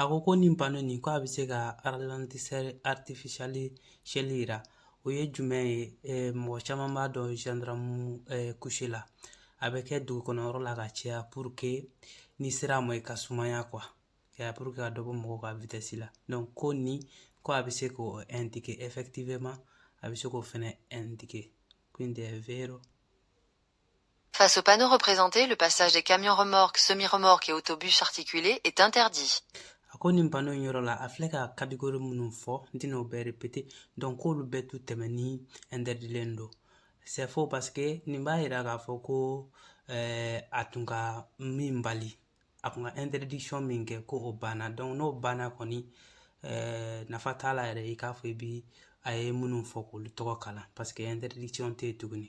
a ko ko nin panneau nin ko a bɛ se ka ralentisseur artificiel jira o ye jumɛn ye eh, mɔgɔ caman b'a dɔn gendarme eh, couché la a bɛ kɛ dugu kɔnɔ yɔrɔ la ka caya pour que n'i sera a ma i ka sumaya quoi pour que ka dɔ bɔ mɔgɔw ka vitesse la donc ko nin ko a bɛ se k'o indiquer effectivement a bɛ se k'o fɛnɛ indiquer quindi è vero Face au panneau représenté, le passage des camions remorques, semi-remorques et autobus articulés est interdit. a ko nin panneau in yɔrɔ la a filɛ ka catégorie minnu fɔ n tɛna o bɛɛ répéter donc k'olu bɛɛ tu tɛmɛni interditlen don c'est faux parce que nin b'a yira k'a fɔ ko eh, a tun ka min bali a kun ka interdiction min kɛ ko o banna donc n'o banna kɔni eh, nafa t'a la yɛrɛ i k'a fɔ i bi a ye minnu fɔ k'olu tɔgɔ kalan parce que interdiction tɛ yen tuguni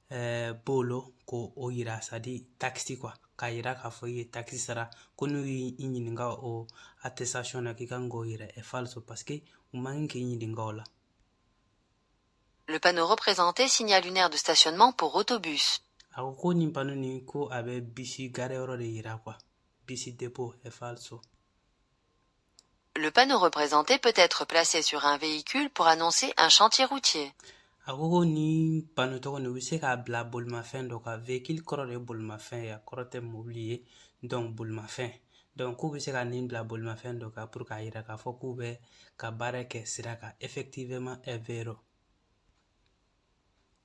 bolo ko o yira c'est-à-dire takisi quoi k'a yira k'a fɔ i ye takisi sara ko n'u y'i ɲininka o attestation na k'i kan k'o yira è falso parce que u man kan k'i ɲininka o la Le panneau représenté signale une aire de stationnement pour autobus. A ko ko nin panneau nin ko a bɛ bisi gareyɔrɔ de yira quoi. Bisi dépôt è falso. Le panneau représenté peut être placé sur un véhicule pour annoncer un chantier routier. a ko ko nin panneau tɔgɔ nin u bɛ se k'a bila bolimafɛn dɔ kan véhicule kɔrɔ de ye bolimafɛn ye a kɔrɔ tɛ mobili ye donc bolimafɛn donc k'u bɛ se ka nin bila bolimafɛn dɔ kan pour k'a yira k'a fɔ k'u bɛ ka baara kɛ sira kan effectivement è vero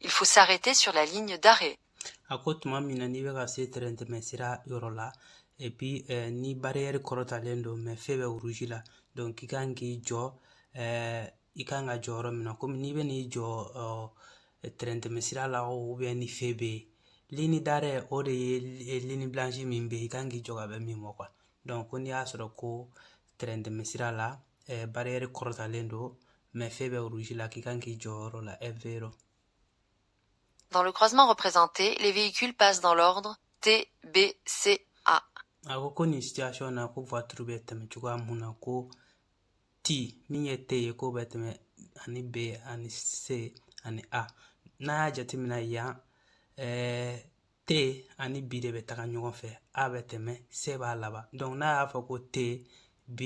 Il faut s'arrêter sur la ligne d'arrêt. a ko tuma min na n'i bɛ ka se tɛrɛn tɛmɛsira yɔrɔ la et puis eh, ni barrière kɔrɔtalen don mais feu bɛ rouge la donc i kan k'i jɔ eh, i kan ka jɔ yɔrɔ min na komi n'i bɛ n'i jɔ oh, tɛrɛn tɛmɛsira la ou bien ni feu bɛ yen ligne d'arrêt o de ye ligne blanche min bɛ yen i kan k'i jɔ ka bɛn min ma quoi donc ko n'i y'a sɔrɔ ko tɛrɛn tɛmɛsira la barrière kɔrɔtalen don mais feu bɛ rouge la k'i kan k'i jɔ yɔrɔ la è vero Dans le croisement représenté, les véhicules passent dans l'ordre T, B, C, A. A ko ko nin situation na ko voiture bɛ tɛmɛ cogoya mun na ko T min ye T ye k'o bɛ tɛmɛ ani B ani C ani A n'an y'a jateminɛ yan ɛɛ T ani B de bɛ taga ɲɔgɔn fɛ A bɛ tɛmɛ C b'a laban donc n'a y'a fɔ ko T B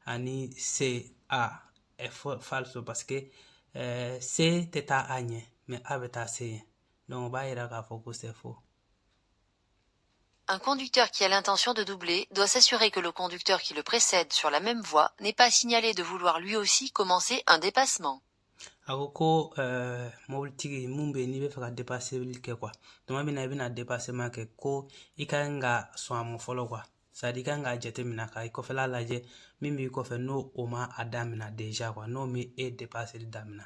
ani C A è falso parce que ɛɛ C tɛ taa A ɲɛ mais A bɛ taa C ɲɛ donc o b'a yira k'a fɔ ko c'est faux. Un conducteur qui a l'intention de doubler doit s'assurer que le conducteur qui le précède sur la même voie n'ait pas signalé de vouloir lui aussi commencer un dépassement. A ko ko mobilitigi mun bɛ yen n'i bɛ fɛ ka depaseli kɛ quoi tuma min na i bɛna dépassement kɛ ko i ka kan ka sɔn a ma fɔlɔ quoi c'est-à-dire i ka kan k'a jateminɛ ka i kɔfɛla lajɛ min b'i kɔfɛ n'o o ma a daminɛ déjà quoi n'o ma e depaseli daminɛ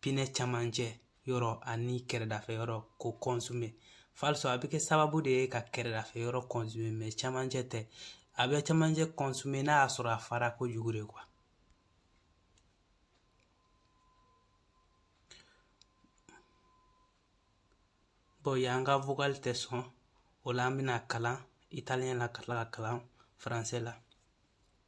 pinɛ camancɛ yɔrɔ ani kɛrɛdafɛ yɔrɔ ko consommer falso a bɛ kɛ sababu de ye ka kɛrɛdafɛ yɔrɔ consommer mais camancɛ tɛ a bɛ camancɛ consommer n'a y'a sɔrɔ a fara kojugu de quoi bon yan ka vocal tɛ sɔn o la an bɛna kalan italien la ka tila ka kalan français la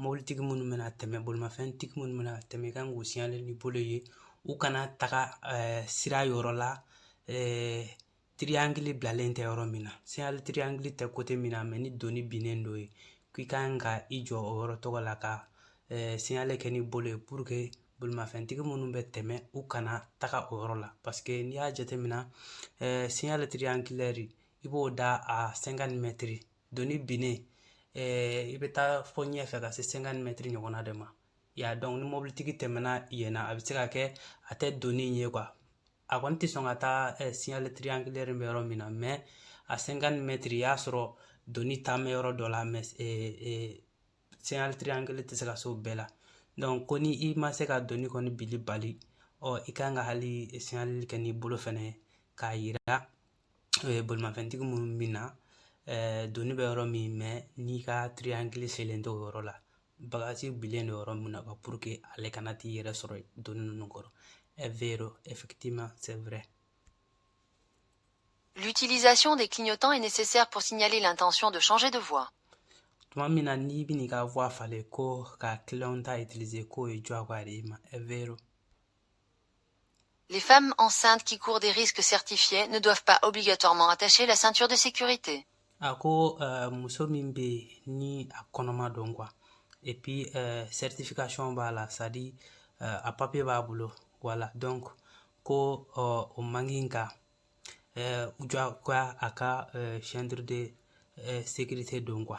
mɔbilitigi minnu bɛna tɛmɛ bolimafɛntigi minnu bɛna tɛmɛ i ka kan k'u signaler n'i bolo ye u kana taga sira yɔrɔ la triangle bilalen tɛ yɔrɔ min na signal triangle tɛ côté min na mais ni doni binnen don yen k'i ka kan ka i jɔ o yɔrɔ tɔgɔ la ka signal kɛ n'i bolo ye pour que bolimafɛntigi minnu bɛ tɛmɛ u kana taga o yɔrɔ la parce que n'i y'a jateminɛ signal triangulaire i b'o da à cinquante mètres doni binnen i bɛ taa fɔ ɲɛfɛ ka se cinquante mètres ɲɔgɔnna de ma ya donc ni mɔbilitigi tɛmɛna yen na a bɛ se ka kɛ a tɛ doni ye quoi a kɔni tɛ sɔn ka taa signal triangulaire bɛ yɔrɔ min na mais à cinquante mètres i y'a sɔrɔ doni taa mɛ yɔrɔ dɔ la mais signal triangulaire tɛ se ka se o bɛɛ la donc ko ni i ma se ka doni kɔni bili bali ɔ i ka kan ka hali signal kɛ n'i bolo fɛnɛ k'a yira bolimafɛntigi minnu bɛ na doni bɛ yɔrɔ min mais n'i ka triangle selen tɛ o yɔrɔ la bagaji bilen don yɔrɔ min na pour que ale kana t'i yɛrɛ sɔrɔ doni ninnu kɔrɔ è vero effectivement c'est vrai L'utilisation des clignotants est nécessaire pour signaler l'intention de changer de voie. tuma min na n'i bɛna i ka voie falen ko ka clignotant utiliser k'o ye diyagoya de y'i ma è vero Les femmes enceintes qui courent des risques certifiés ne doivent pas obligatoirement attacher la ceinture de sécurité. a ko eh, muso min bɛ yen ni a kɔnɔma don quoi et puis eh, certification b'a la c'est-à-dire eh, a papier b'a bolo voilà donc ko o man kan ka jagoya a ka ceinture de sécurité don quoi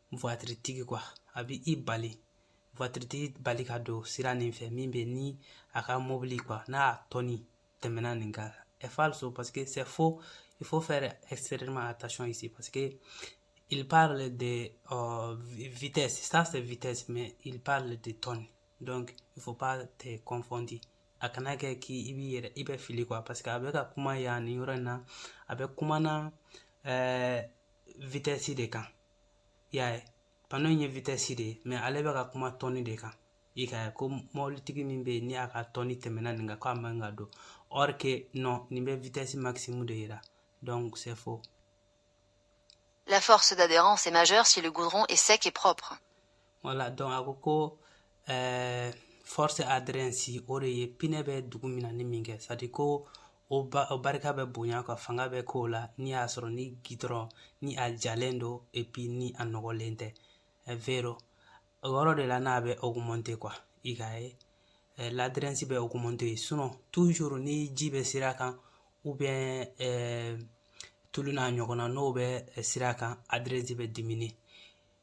tigi quoi a bɛ i bali voiture tigi bali ka don sira nin fɛ min bɛ ni a ka mobili quoi n'a tɔni tɛmɛna nin kan è falso parce que c'est faux il faut faire extrêmement attention ici parce que il parle de euh, vitesse ça c'est vitesse mais il parle de tonne donc il faut pas te confondre a kana kɛ k'i i b'i yɛrɛ i bɛ fili quoi parce que a bɛ ka kuma yan nin yɔrɔ in na a bɛ kuma na ɛɛ vitesse de kan i y'a ye pano in ye vitɛsi de ye mais ale bɛ ka kuma tɔni de kan i ka ye ko mɔbilitigi min bɛ yen ni a ka tɔni tɛmɛna nin kan ko a man ka don or que non nin bɛ vitɛsi maximum de yira donc c'est faux La force d'adhérence est majeure si le goudron est sec et propre. voilà donc a ko ko ɛɛ eh, force adhérence o de ye pinɛ bɛ dugu minani min kɛ sadi ko o ba o barika bɛ bonya quoi fanga bɛ k'o la ni y'a sɔrɔ ni gidɔrɔn ni a jalen don epi ni a nɔgɔlen tɛ eh, vero o yɔrɔ de la n'a bɛ augmenter quoi i ka ye eh, l'adhérence bɛ augmenter yen sinon toujours ni ji bɛ sira kan ou bien tulu n'a ɲɔgɔnna n'o bɛ sira kan adhérence bɛ diminuer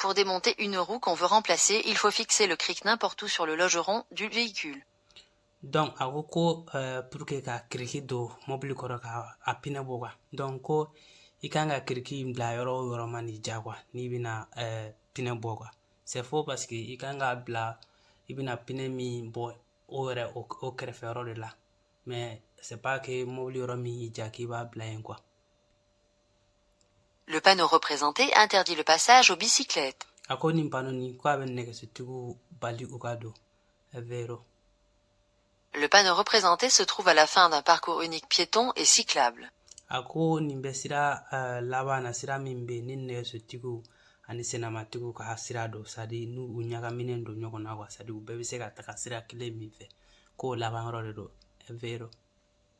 Pour démonter une roue qu'on veut remplacer, il faut fixer le cric n'importe où sur le longeron du véhicule. Donc, a ko ko euh, pour que ka kiriki don mobili kɔrɔ ka a pinɛ bɔ quoi donc ko i kan ka kiriki bila yɔrɔ o yɔrɔ man'i diya quoi n'i bɛna euh, pinɛ bɔ quoi c'est faux parce que i kan k'a bila i bɛna pinɛ min bɔ o yɛrɛ o kɛrɛfɛ yɔrɔ de la mais c'est pas que mobili yɔrɔ min y'i diya k'i b'a bila yen quoi Le panneau représenté interdit le passage aux bicyclettes. a ko nin pano nin ko a bɛ nɛgɛsotigiw bali u ka don vero Le panneau représenté se trouve à la fin d'un parcours unique piéton et cyclable. a ko nin bɛ sira eh, laban na sira min bɛ yen ni nɛgɛsotigiw ani senamatigiw ka sira don sadi n'u u ɲagaminen don ɲɔgɔn na wa sadi u bɛɛ bɛ se ka taga sira kelen min fɛ k'o laban yɔrɔ de don vero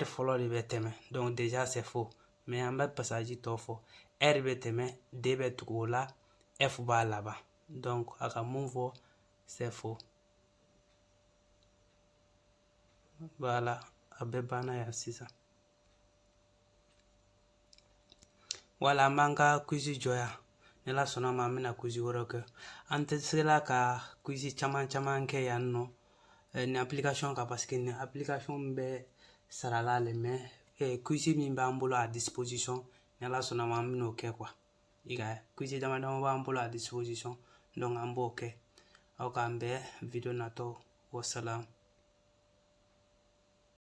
r fɔlɔ de bɛ tɛmɛ donc déjà c'est faux mais an bɛ pasaji tɔ fɔ r bɛ tɛmɛ d bɛ tugu o la f b'a laban donc a ka mun fɔ c'est faux voilà a bɛɛ banna yan sisan voilà an b'an ka quiz jɔ yan ni ala sɔnna ma an bɛna quiz wɛrɛw kɛ an tɛ se la ka quiz caman caman kɛ yan nɔ eh, nin application kan parce que nin application bɛ sara la le mais eh, quiz min b'an bolo à disposition ni ala sɔnna ma an bɛn'o kɛ quoi i ka quiz dama dama b'an bolo à disposition donc an b'o kɛ aw k'an bɛn video natɔ wasalam